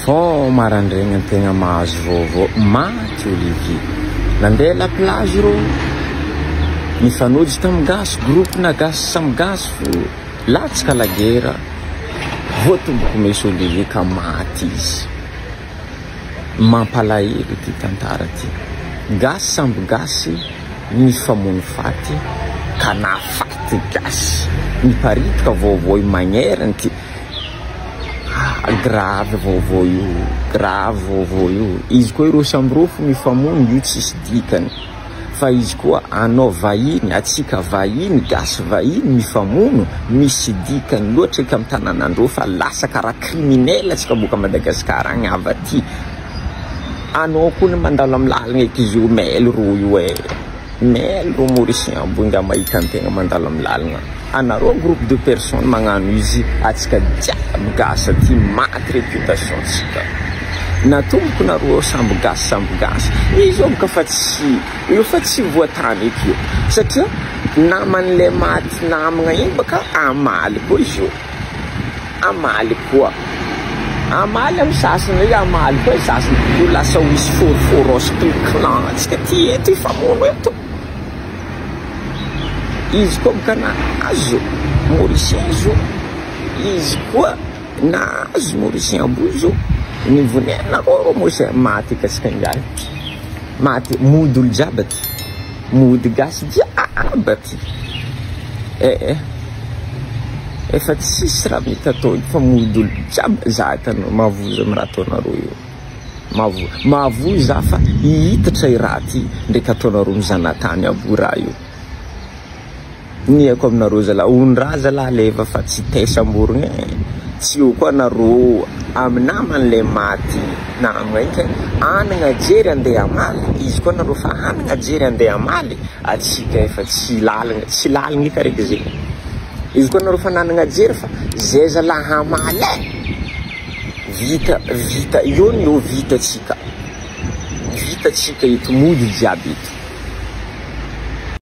Vao marandraigna tegna mahazo vaovao maty Olivier. Nandeha la plage rô, nifanojo tamin'ny gasy, groupe na gasy samy gasy fô latsaka la guerre, vao tomboko meso Olivier ka maty izy. Mampalahelo ity tantara ty. Gasy samby gasy nifamono faty ka nahafaty gasy. Miparitoka vaovao magneriny ty. Grave vaovao io, grave vaovao io. Izy koa ireo samy roa fo mifamono io tsisy dikany. Fa izy koa anao vahiny, atsika vahiny, gasy vahiny mifamono, misy dikany loatra eky am tananandreo fa lasa karaha criminel atsika boaka Madagascar agny avy aty. Anao koa ny mandalo am lalagna eky izy io mail roa io eh. Mel o Mauricien amboinga mahita ny tegna mandalo am lalagna anareo groupe de personne magnano izy atsika jiaby gasy aty maty reputation tsika natomboko nareo ao samby gasy samby gasy izy io bka fa tsy io fa tsy voatany eky io satria namanle maty namagna igny baka amaly koa izy io. Hamaly koa. Hamaly amin'ny sasany hoe hamaly koa ny sasany. Ho lasa ho izy forforos toy ny clan antsika aty eto hifamono eto. Izy koa ka nahazo Mauricien zo. Izy koa nahazo Mauricien amboa zo. Mivoneana koa Mauricien maty aty antsika ingahy. Maty mody olo jiaby aty. Mody gasy jiaby aty. Eh eh. Efa tsisy raha mety atao eto fa mody olo jiaby za hitanao mahavoza am raha ataonareo io. Mahavoa mahavoa za fa hihitatra i raha ty ndraiky ataonareo mizanatany abo raha io. Iniako aminareo zalahy ony ra zalahy leva fa tsy te samborigna e! tsy eo koa nareo amy namany le maty na maika hanagna jery ande hamaly izy koa nareo fa hanagna jery ande hamaly atsika efa tsy lalagna tsy lalagna eka reka ze izy koa nareo fa nanagna jery fa ze zalahy hamaly e! vita vita eo ny eo vita tsika vita tsika eto mody jiaby eto.